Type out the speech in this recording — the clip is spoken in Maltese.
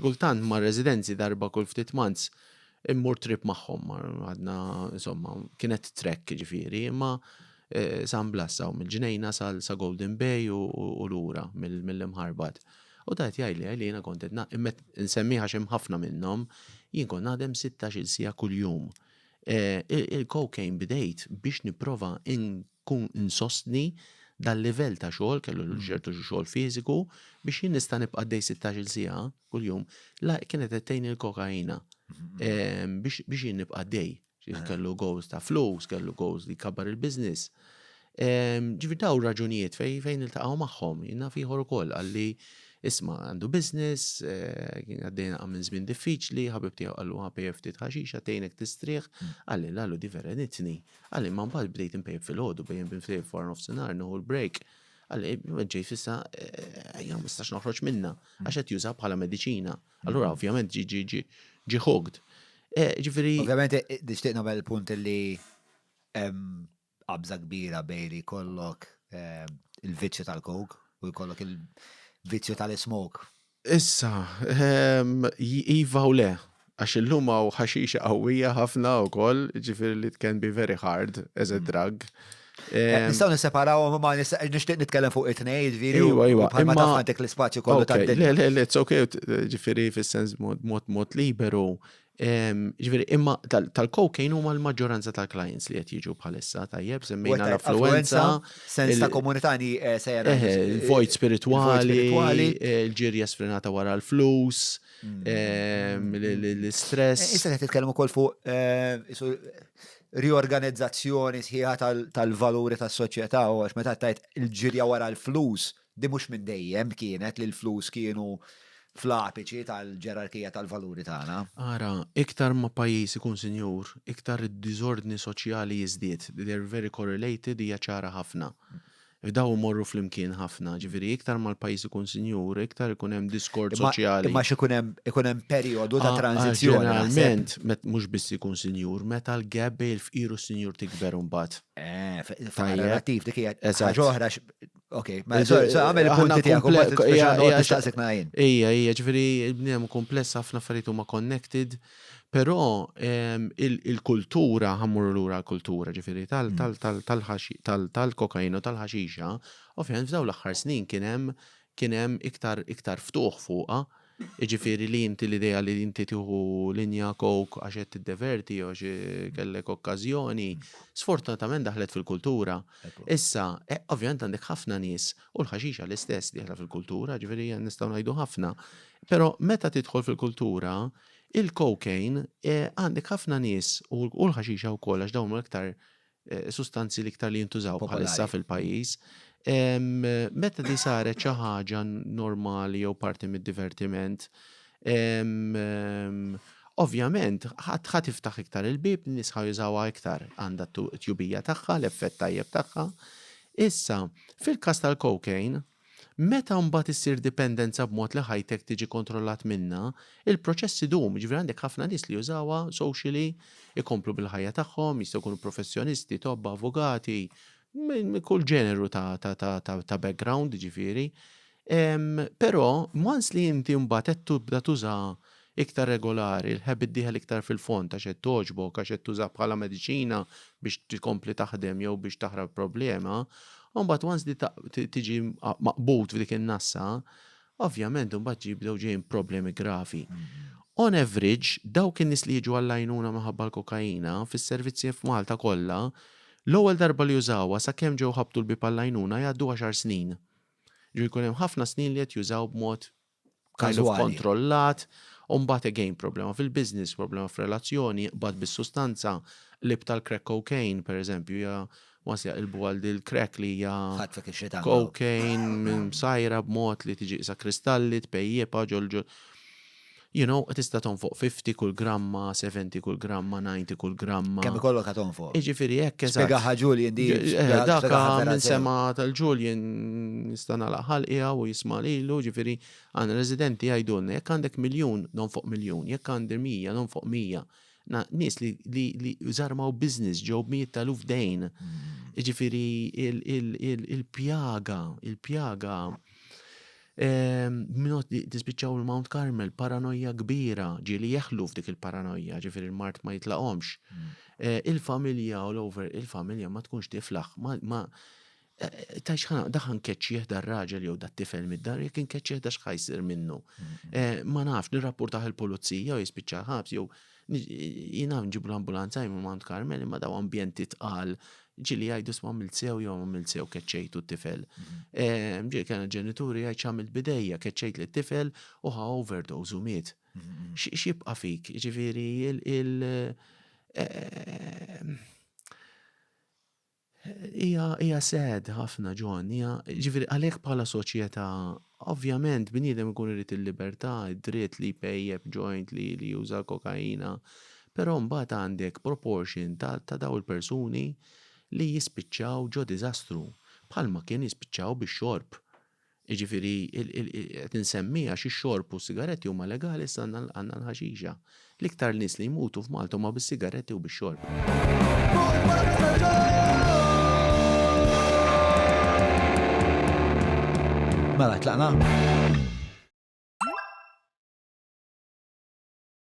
Kultant mar-residenzi darba kull ftit months immur trip magħhom mar għadna insomma kienet trek jiġifieri imma San Blas hawn mill-Ġnejna sal sa Golden Bay u lura mill-Imħarbat. U ta' qed jgħidli jgħidli jiena kont qed immet insemmih għax hemm ħafna minnhom jien kont naħdem sittax-il siegħa kuljum. Il-cocaine bdejt biex nipprova Kun insostni dan livell ta' xogħol, kellu ċertu xogħol fiżiku, biex jien nista' nibqa' għaddej sittax-il siegħa kuljum, la kienet qed tgħin il-kokaina biex jien nibqa' għaddej. Kellu goals ta' flus, kellu goals li jkabbar il-business. Ġifieri dawn raġunijiet fejn iltaqgħu magħhom, jien naf ieħor ukoll qalli isma' għandu business, kien għaddej naqa' minn żmien diffiċli, ħabib tiegħu qallu ħa bejgħ ftit ħaxixa tgħinek tistrieħ, qalli l-għadu di verenitni. Qal imma mbagħad bdejt inpejjep filgħodu, bejjem binflejjep f'wara nofsinhar nieħu l-break. Qal imma ġej fissa ejja ma nistax noħroġ minna għax qed juża bħala mediċina. Allura ovvjament ġi ġi ġi ġi hooked. Eh, ġifieri. Ovvjament eh, nixtieq nagħmel il-punt li qabża kbira bej li kollok eh, il-viċċju tal-kok u jkollok il-viċċju tal-ismok. Issa, iva u le, għax illum hawn ħaxixa qawwija ħafna wkoll, jiġifieri li it can be very hard as a drug. Nistgħu nisseparawhom imma nixtieq nitkellem fuq it-tnejn, jiġifieri Iva, iva. bħalma Imma- taf għandek l-ispazju kollu Ok, le, tad-dinja. le, le, it's ok, ġifieri fis-sens mod mod mod liberu, Ehm, ġviri, imma tal-cocaine huma l-maġġoranza tal-clients li qed jiġu bħalissa tajjeb, semmejna l-affluenza. Sens ta' komunità ni eh, sejra. Eh, eh, il-vojt spirituali, il-ġirja sfrenata wara l-flus, mm. ehm, l-stress. Issa qed titkellmu kol fuq riorganizzazzjoni sħiħa tal-valuri tas-soċjetà u għax meta tajt il-ġirja wara l-flus. Din mhux minn dejjem kienet li l-flus kienu fl-apiċi tal-ġerarkija tal-valuri tagħna. Ara, iktar ma pajjiż ikun sinjur, iktar id-diżordni soċjali jiżdied. They are very correlated hija ċara ħafna. Dawn imorru flimkien ħafna. Ġifieri, iktar ma l-pajjiż ikun sinjur, iktar ikun hemm diskors soċjali. Imma ikun hemm perijodu ta' transizzjoni. Ġeneralment, mhux biss ikun sinjur, meta l-gap bejn il-fqir u s-sinjur tikber imbagħad. Eh, fil-relattiv dik hija ħaġa oħra Ok, ma sorry, so għamel il-punti tiegħek u bħet il-speċjal ma jien. Ija, ija, ġifieri il-bniedem kumpless ħafna affarijiet huma connected, però ehm, il-kultura ħammur lura l-kultura ġifieri mm. tal-kokaina u tal-ħaxixa, ovvjament f'dawn l-aħħar snin kien hemm kien hemm iktar iktar ftuħ fuqha. Jiġifieri li inti l-idea li inti tieħu linja coke għax qed tiddeverti jew għax kellek okkażjoni, sfortunatament daħlet fil-kultura. Issa, ovvjament għandek ħafna nies, u l-ħaxixa l-istess dieħla fil-kultura, jiġifieri nistgħu ngħidu ħafna. Però meta tidħol fil-kultura, il-cocaine għandek ħafna nies, u l-ħaxixa wkoll għax dawn huma l-iktar sustanzi l-iktar li jintużaw bħalissa fil-pajjiż. Meta di saret xi ħaġa normali jew parti mid-divertiment, ovvjament ħadd tiftaħ iktar il-bieb, nies ħa jużawha iktar għandha t-tjubija tagħha, l-effett tajjeb tagħha. Issa, fil-każ tal-cocaine, Meta mbagħad issir dipendenza b'mod li ħajtek tiġi kontrollat minnha, il-proċess idum, jiġifieri għandek ħafna nies li jużawha socially, ikomplu bil-ħajja tagħhom, jistgħu jkunu professjonisti, tobba, avukati, minn kull ġeneru ta' ta' ta' ta' ta' background, jiġifieri. Ehm, Però, once li inti mbagħad qed tibda tużaha Iktar regolari, il-ħeb iddieħel iktar fil-fond għax qed togħġbok, għax qed tużah bħala mediċina biex tkompli taħdem jew biex taħrab problema, u mbagħad once li tiġi maqbud f'dik in-nassa, ovvjament imbagħad jibdew ġejjin problemi gravi. On average, dawk in-nies li jiġu għall-għajnuna minħabba l-kokaina fis-servizzi f'Malta kollha, l-ewwel darba li jużawha sakemm ġew ħabbtu l-bieb għall-għajnuna jgħaddu għaxar snin. Ġifieri jkun hemm ħafna snin li qed jużaw b'mod kind of kontrollat, u mbagħad again problema fil-business, problema f'relazzjoni, qbad bis-sustanza, qlib tal-crack cocaine, per eżempju, hija once li jaqilbu għal dil crack li hija cocaine sajra b'mod li tiġi sa kristalli, tpejjepa, ġol ġol. You know, tista' tonfoq 50 kull gramma, 70 kull gramma, 90 kull gramma. Kemm ikollok tonfoq? Jiġifieri hekk eżatt. Spjegaha Julian di. Dak minn sema' tal Julian jista' nagħlaq ħalqiha u jisma' lilu, jiġifieri aħna residenti jgħidulna jekk għandek miljun nonfoq miljun, jekk għandi mija nonfoq mija. Nies li żarmaw business ġew b'mijiet ta' eluf dejn. Jiġifieri il-pjaga, il-pjaga Minot tispiċċaw il-Mount Carmel, paranoja kbira, ġieli jeħlu f'dik il-paranoja, ġifir il-mart ma jitlaqomx. Mm. Eh, il-familja all over, il-familja ma tkunx tiflaħ, ma eh, ta' xħana, daħan keċċieħ dar raġel jew da' tifel mid-dar, jek nkeċċieħ da xħajsir minnu. Mm. Eh, ma nafx, nirrapportaħ il-polizija u jispiċċa ħabs jew Jina nġibu l-ambulanza jimma Mount Carmel imma daw ambjenti tqal ġili għajdu sma mill sew jew mill sew keċċejtu t-tifel. Mhm. Eh, Ġil kena ġenituri għajt xamil bidejja keċċejt li t-tifel u ħa overdose u miet. Mhm, mhm. Xibqa fik, ġiviri il- eh, Hija hija sad ħafna John, hija ġifieri għalhekk bħala soċjetà ovvjament bniedem ikun irid il-libertà, id-dritt li jpejjep joint, li li juża l-kokaina, però mbagħad għandek proportion ta' ta' dawn il-persuni li jispiċċaw ġo diżastru, bħalma kien jispiċċaw bix-xorb. Jiġifieri qed insemmi għax ix-xorb u s-sigaretti huma legali issa għandna l-ħaxixa. L-iktar nies li jmutu f'Malta huma bis-sigaretti u bix-xorb. Mela, tlaqna?